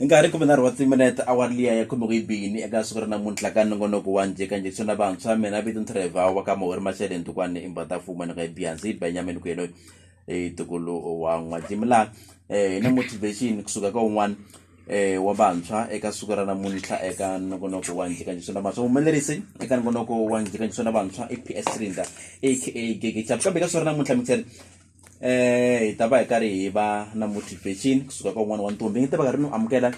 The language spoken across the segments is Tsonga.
Nkarhi kumbe nharhu wa timinete awara liya ya khume ku yi bini eka siku ra namuntlha ka nongonoko wa njhe ka njekisoni na vantshwa mina vito ntirhevhawu wa ka mahori mashele ndukwane imbadafuma ni ka ibihansi benyamin kuyelo hi tukulu wa n'wajimi laha eh, hi na motivation kusuka ka un'wana eh wa vantshwa eka siku ra namuntlha eka nongonoko wa njhekanjheso na vantshwa humelerisi eka nongonoko wa njhekanjheso na vantshwa i PS Rinda aka Gege Chap kambe ka siku ra namuntlha mixer eh hi ta va hi karhi hi va na motivation kusuka ka un'wana wa ntombi nge ta va karhi ni amukela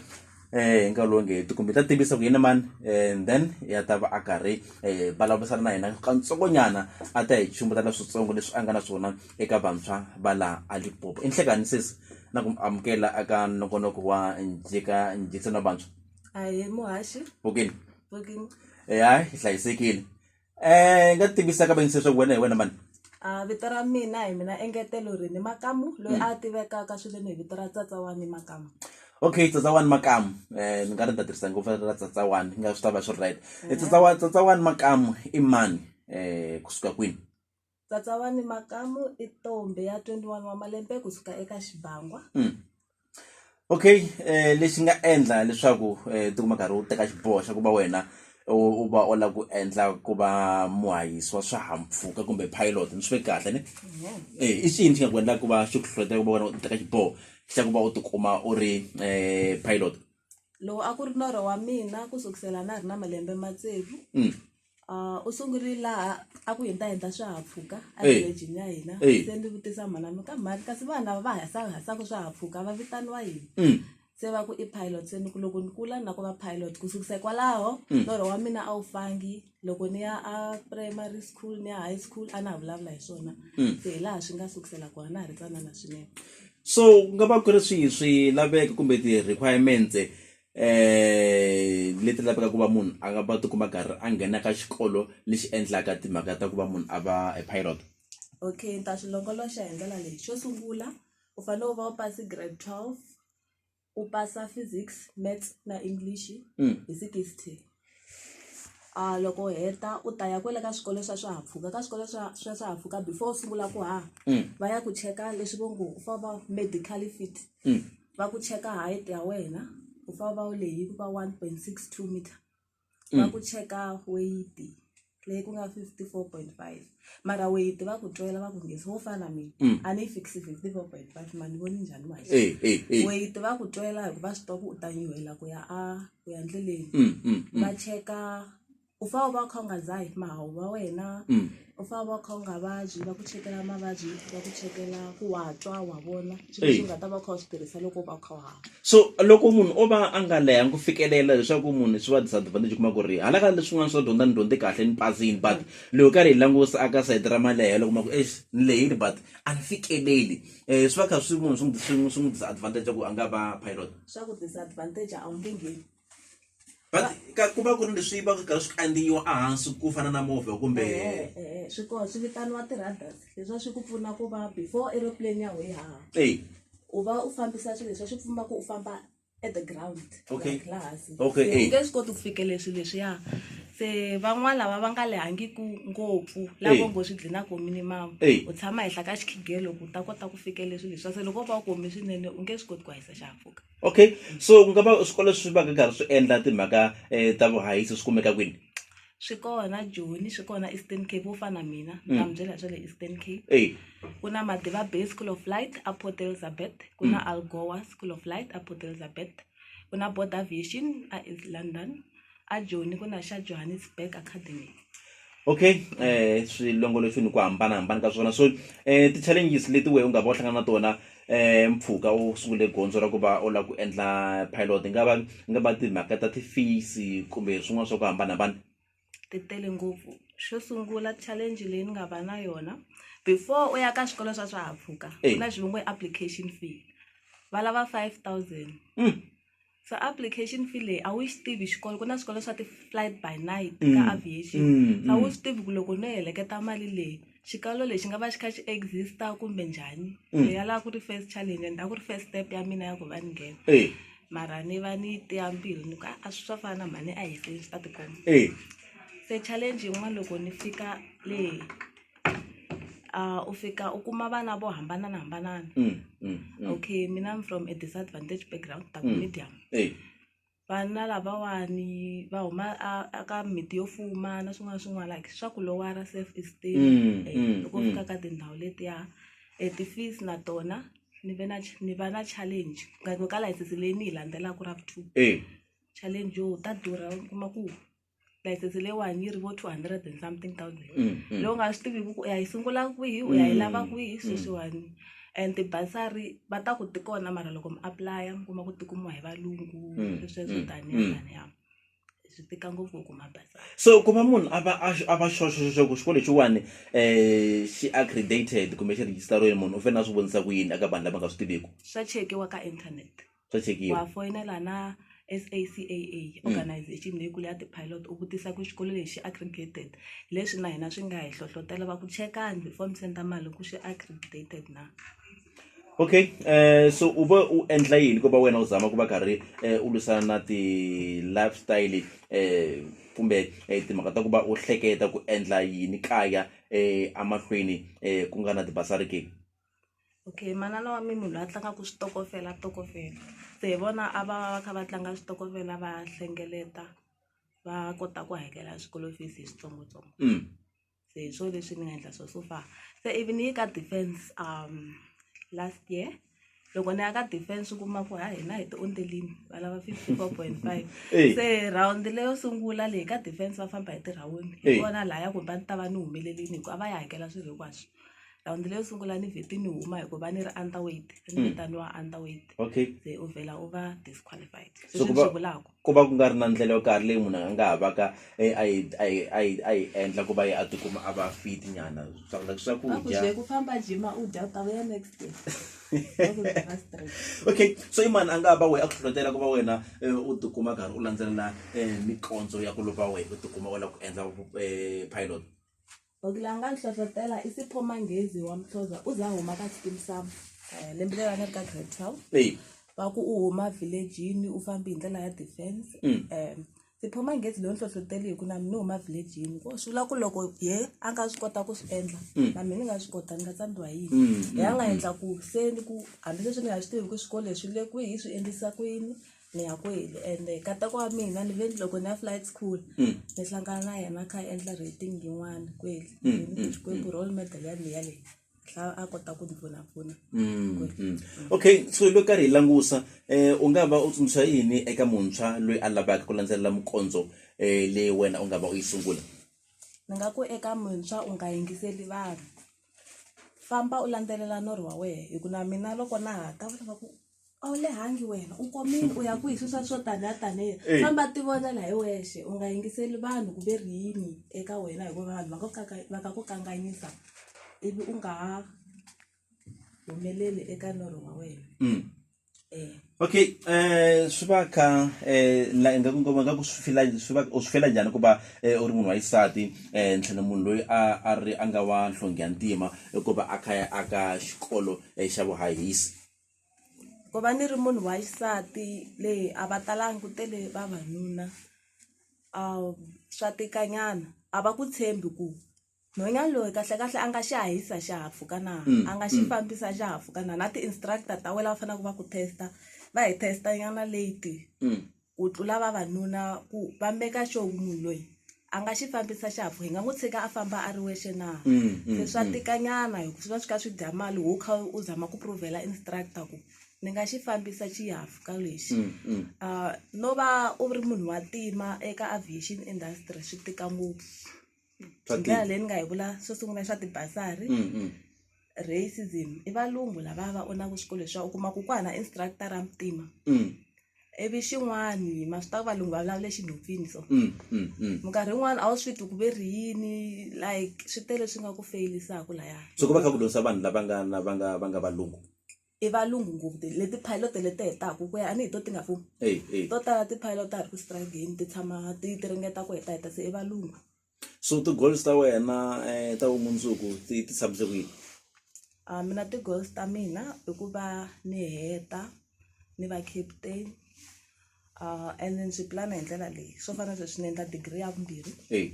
eh hi nkarhi lowu nge ti kumbe ta tivisa ku yini mani and then ya ta va a karhi eh vulavurisana na hina kantsongonyana a ta hi chumbeta la switsongo leswi a nga na swona eka vantshwa va laha a lipopo i nhlekani sesi na ku amukela aka nongonoko wa njika njikisano wa vantshwa ahee muhaxi pokeni pokeni eh hayi hi hlayisekile um nga tivisa ka vanyisa leswaku wena hi wena mani a vito ra mina hi mina engetelo ri ni makamu loyi mm. a tivekaka swileni hi vito ra tsatsa wa ni makamu okay tsatsa wani makamu eh ni nga ri ni ta tirhisa ngopfu ra tsatsa wani nga swi ta va swi ri right eh, tsatsa wa tsatsa wani makamu i mani eh kusuka kwini Tsatsawani Makamu i ntombhi ya 21 wa malembe ku suka eka Xibangwa. Mm. okay eh lexi nga endla leswaku eh tikuma karhi u teka xiboho xa ku va wena u va u lava ku endla ku va muhayisi wa swihahampfhuka kumbe pilot ni swi ve kahle ni eh i xiyini xi nga ku endlaka ku va xi ku hlohlotela ku va wena u teka xiboho xa ku va u tikuma u ri eh pilot lowu a ku ri norho wa mina ku sukusela na ha ri na malembe matsevu mm. Ah, u sungule laha a ku hindahindha swihahampfhuka Eh. evilejini ya hina Eh. se ndzi vutisa mhana mi ka mhani kasi vanhu lava va hasahasaka swihahampfhuka va vitaniwa yini Mm. se va ku i pilot se ni ku loko ni kula na ku va pilot ku sukisa hikwalaho Mm. norho wa mina a wu fangi loko ni ya a primary school ni ya high school a na ha vulavula hi swona Mm. se hi laha swi nga sukisela kona na ha ri tsanana swinene so ku nga va ku ri swihi swilaveko kumbe ti-requirements leti lavekaka ku va munhu a va tikuma karhi a nghena ka xikolo lexi endlaka timhaka ta ku va munhu a va a pilot okay ni ta swi longoloxa hi ndlela leyi xo sungula u fanele u va u pasi grade twelve u pasa physics maths na English hi sixty. loko u heta u ta ya kwale ka swikolo swa swihahampfhuka ka swikolo swa swa swihahampfhuka before u sungula ku haha va ya ku cheka leswi vo ngo u fane u va medical fit va ku cheka height ya wena u fane u va u lehile ku va one point six two meter va ku cheka weyiti. leyi ku nga 54.5 mara weyiti va ku twela va ku ngezi wo fana mina mm. a ni yi fikisi 54.5 ma ni voni njhani wa weyiti va ku twela hikuva swi twa ku u ta nyuhela ku ya a ku ya ndleleni mm, mm, va cheka u fa u va u kha u nga dzahi mahawu va wena u fa u va u kha u nga vabyi va ku chekela mavabyi va ku chekela ku wa twa wa vona swilo leswi u nga ta va u kha u swi tirhisa loko u va u kha u hava so loko munhu o va a nga lehangi ku fikelela leswaku munhu swi va disadvantage u kuma ku ri hala ka leswin'wana swa dyondza ni dyondze kahle ni pasini but mm. loko karhi hi langusa aka sayiti ra malehelo kuma ku ex ni lehile but a ni fikeleli um swi va kha swi munhu swi n'wi swi n'wi disadvantage ku a nga va pilot swa ku disadvantage a wu nge ngheni but ka ku va ku ri leswi va ku karhi swi kandziyiwa ehansi ku fana na movha kumbe Eh, eh, eh, swi kona swi vitaniwa ti-radars leswiwa swi ku pfuna ku va before aeroplane ya we haha eyi u va u fambisa swilo leswiwa swi pfumba ku u famba at the ground Okay. like laha hansi. Okay, Se eh. u nge swi koti ku fikelela swilo leswiya se van'wana lava va nga lehangiku ngopfu Eh. lavo ngo swi dlinako minimum Eh. u tshama henhla ka xikhigelo ku u ta kota ku fikelela swilo leswiwa se loko u va u kome swinene u nge swi koti ku hahisa xihahampfhuka okay so ku nga va swikolo swi va ka karhi swi endla timhaka um ta vuhahisi swi kumeka kwini swi kona joni swi kona eastern cape wo fana mina mm. na mi byela swa le eastern cape ey ku na madiva bay school of light a port elizabeth ku na mm. algoa school of light a port elizabeth ku na border aviation a east london a joni ku na xa johannesburg academy okay eh swilongolofini ku hambanahambana ka swona so eh ti-challenges leti wehe u nga va u hlangana na tona eh mpfhuka u sungule gondzo ra ku va u lava ku endla pilot nga va nga va timhaka ta ti-fees kumbe swin'wana swa ku hambanahambana ti tele ngopfu xo sungula challenge leyi ni nga va na yona before u ya ka swikolo swa swihahampfhuka ku na xivongo application fee va lava five thousand mm. se application fee leyi a wu yi swi tivi xikolo ku na swikolo swa ti-flight by night ka Mm, aviation mm, a wu mm. swi tivi ku loko no heleketa mali leyi xikalo lexi nga va xi kha xi exista kumbe njhani Mm. leyi ya lava ku ri first challenge and a ku ri first step ya mina ya ku va ni nghena Eh, mara ni va ni tiya mbilu ni ku "Ah, a swi swa fana na mhani a hi seni swi ta tikomba eh. se challenge yin'wana loko ni fika le um u fika u kuma vana vo hambananahambana okay mina am from a disadvantage background ni ta ku medium vana lavawani va huma a a ka miti yo fuma na swin'wana na swin'wana like swa ku lowara self esteem loko fika ka tindhawu letiya and ti-fees na tona ni ve na ni va na challenge ka license leyi ni yi landzelaka ra vu two challenge yo ta durha u kuma ku. license leyiwani yi ri vo two hundred and something thousand Mm, mm. leyi u nga swi tiviku ku u ya yi sungula kwihi u ya yi lava kwihi sweswiwani and tibasari va ta ku ti kona mara loko mi aplaya mi kuma ku ti kumiwa hi valungu Mm, sweswo mm, taniya mm. taniya swi tika ngopfu ku kuma basari so ku va munhu a va a a va xoxoxo ku xikolo lexiwani um xi accredited kumbe xi rejistariwile munhu u fanele a swi vonisa ku yini eka vanhu lava nga swi tiviku swa chekiwa ka internet swa chekiwa wa foyinela na SACAA organization leyikulu ya ti-pilot u vutisa ku xikolo lexi accredited leswi na hina swi nga hi hlohlotela va ku chekani before mi senda mali ku swi accredited na okay um so u va u endla yini ku va wena u zama ku va karhi um u lwisana na ti-lifestyle um kumbe um timhaka ta ku va u hleketa ku endla yini kaya um emahlweni um ku nga na tibasari ke okay manana wa mina munhu la tlangaku switokofela tokofela se hi vona a va va kha va tlanga switokofela va hlengeleta va kota ku hakela swikolo fees hi switsongotsongo se hi swo leswi ni nga endla swo so far se ivi ni yi ka defense last year loko ni ya ka defense u kuma ku ha hina hi tiondelini va lava fifty four point five se rhawundi leyo sungula leyi ka defense va famba hi tirawundi hi kona laya kumbe a ni ta va ni humelerile hi ku a va yi hakela swilo hinkwaswo. rhawundi leyo sungula ni vheti ni huma hikuva ni ri under weight a ni Mm. vitaniwa under weight okay se u vhela u va disqualified So sweswi ku ni va- swi vulaka ku va ku nga ri na ndlela yo karhi leyi munhu a nga ha vaka eh, a yi- a yi- a yi- a yi endla ku va yi a tikuma a va fit nyana swa like a ku swakudya bye ku famba jima u dya u ta vuya next day a ku bye va straight okay so i mani a nga ha va wehe a ku hlohlotela ku va wena eh, u tikuma karhi u landzelela um mikondzo ya ku lova wehe u tikuma u lava ku endla eh, pilot Loko la nga ni hlohlotela i Sipho Manghezi wa Mhloza u za huma ka Xikimisava eh, lembe leri a ni ri ka grade twelve Hey. va ku u huma villagini u fambi hi ndlela ya defense Mm. um Sipho Manghezi loyi ni hlohloteli hi ku na mina ni huma villagini ko swi vula ku loko ye a nga swi kota ku swi endla Mm. na mina ni nga swi kota ni nga tsandziwa hi yini Mm, hi a nga endla ku se ni ku hambi leswi ni nga swi tivi ku swikolo leswi le kwihi swi endlisa ku yini ni ya kwele ende katako wa mina ni ve ni loko ni ya flight school ni hlangana na yena a kha a endla rating yin'wana kwele xikwembu role model ya mina leyi hla a kota ku ni pfunapfuna okay so hi lo karhi hi langusa um u nga va u tsundzuxa yini eka muntshwa loyi a lavaka ku landzelela mukondzo um leyi wena u nga va u yi sungula ni nga ku eka muntshwa u nga yingiseli vanhu famba u landzelela norho wa wena hi ku na mina loko na ha ta va lava ku a wu lehangi wena u komile u ya ku hi swisa swo taniya taniya Eyi. famba ti vonela hi wexe u nga yingiseli vanhu ku ve ri yini eka wena hikuva vanhu va ku kaka- va ka ku kanganyisa ivi u nga ha humeleli eka norho wa wena Mm. um okay um swi va kha um la ingaku ngoma nga ku swi fila swi va u swi fela njhani ku va eh, u ri munhu wa xisati um ntlhela munhu loyi a a ri a nga wa nhlonge ya ntima hikuva a kha ya aka xikolo eh, xa vuhahisi ku va ni ri munhu wa xisati le a va talanga ku tele vavanuna swa tika nyana a va ku tshembi ku nhwanyana loyi kahle kahle a nga xi hahisa xihahampfhuka na a nga xi fambisa xihahampfhuka na na ti-instructor ta wena lava faneleke va ku test va hi test nyana late. ku tlula vavanuna ku va meka xo ku munhu loyi a nga xi fambisa xihahampfhuka hi nga n'wi tshika a famba a ri wexe na Mm, mm, se swa mm. tikanyana hi ku swi va swi kha swi dya mali wo kha u zama ku provhela instructor ku ni nga xi fambisa xihahampfhuka lexi Mm, mm. Ah, no va u ri munhu wa tima eka aviation industry swi tika ngopfu Swa hi ndlela tika. leyi ni nga yi vula xo sungula swa tibasari Mm, mm. racism i valungu lava va onaka swikolo leswiwa u kuma ku ku hana instructor ra mutima Mm, ivi xin'wani ma swi tiva ku valungu va vulavule xinhophini so mm, mm, mm. minkarhi yin'wani a wu swi twi ku ve ri yini like swi tele swi nga ku feyilisaka laya so ku va kha ku dyondzisa vanhu lava nga na va nga va nga valungu i valungu ngopfu ti leti pilot leti hetaka ku ya a ni hi to ti nga pfuni eyi eyi to tala ti pilot ta ha ri ku struggle-ni ti tshama ti ti ringeta ku heta heta se i valungu so ti-goals ta wena um ta vumundzuku ti ti tshamise ku yini a mina ti-goals ta mina i ku va ni heta ni va captain Uh, and ndzi pulana hi ndlela leyi swo fana sweswi ni endla digiri ya vumbirhi hey.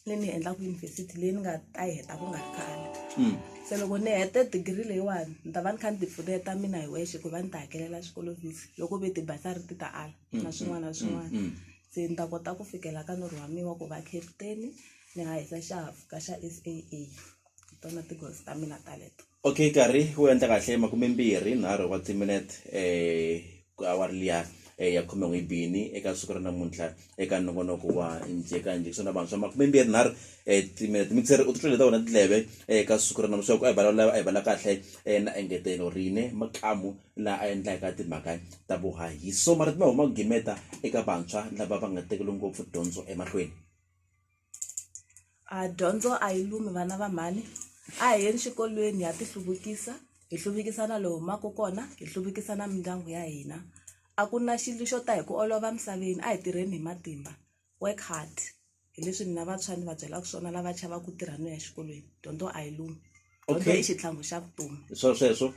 leyi ni yi endlaka yunivhesiti leyi ni nga ta yi heta ku nga ri khale mm. se loko ni hete digiri leyiwani ni ta va ni kha ni tipfuneta mina hi wexe ku va ni ta hakelela xikolo visi loko ve tibasari ti ta ala mm, na swin'wana na mm, swin'wana se ni ta kota ku fikela ka norhi wa mina wa ku va captain ni hahisa xihahafuka xa s a a hi tona tigozi ta mina taleto okay nkarhi wu endla kahle makumembirhi nharhu wa timinete um awari liya um ya khume n'wi bini eka siku ra namuntlha eka nongonoko wa njeka njekisani na vantshwa makumembirhi nharhu um timinete mixeri u titwele ta wena tindleve eka siku ra namutlha ku a hi vulavula a hi vulavula kahle um na engetelo rine makamu la a endlaka timhaka ta vuhahiso mara ti ma huma gimeta eka vantshwa lava va nga tekeli ngopfu dyondzo emahlweni a dyondzo a yi lumi vana va mhani a hi yeni xikolweni ha ti hluvukisa hi hluvukisa na lowu humaka kona hi hluvukisa na mindyangu ya hina a ku na xilo xo ta hi ku olova emisaveni a hi tirheni hi matimba work hard hi leswi mina vantshwa ni va byelaka swona lava chavaka ku tirha no ya exikolweni dyondzo a yi lumi. okay i xitlhangu xa vutomi swa sweswo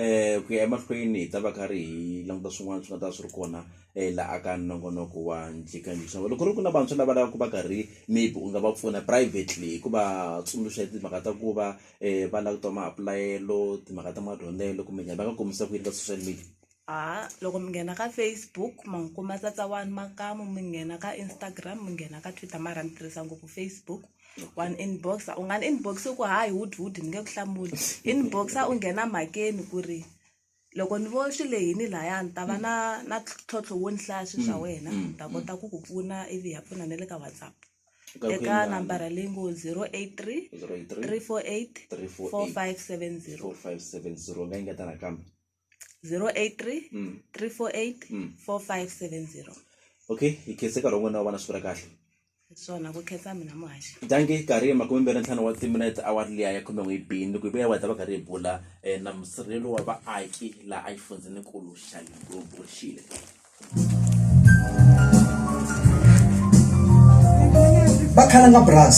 um ku ya emahlweni hi ta va ka ri hi languta swin'wana swi nga ta swi ri kona um la aka nongonoko wa ndlikangixa loko ri ku na vantshwa lava lavaka ku va karhi maybe u nga va pfuna privately hi ku va tsundzuxa hi timhaka ta ku va um va langutiwa maapulayelo timhaka ta madyondzelo kumbe njhani va nga kombisa ku yini ka social media a loko mi nghena ka Facebook ma n'wi kuma tsatsa wani makamu mi nghena ka Instagram mi nghena ka Twitter mara ni tirhisa ngopfu Facebook one inbox u nga ni inbox u ku hayi hud hud ni nge ku hlamuli inbox u nghena mhakeni ku ri loko ni vo swi lehini laya ni ta va na na ntlhontlho wo ni hlaya swilo swa wena ni ta kota ku ku pfuna ivi hi ya pfuna na le ka WhatsApp eka nambara leyi ngo zero eight three three four eight four five seven zero 4570 nga yi ngeta nakambe 083 mm. 348 mm. 4570 okay hi khese karhi wun'wana wa vana swi ri kahle swona ku khetsa mina muhaxi dange karhi hi makume mbirhi ntlhanu wa timinete awar liya ya khume n'wi bini ku vuya wa ta va karhi hi bula um na musirhelo wa vaaki laha a yi fundzininkulu xa limpopo xile bakhalanga bras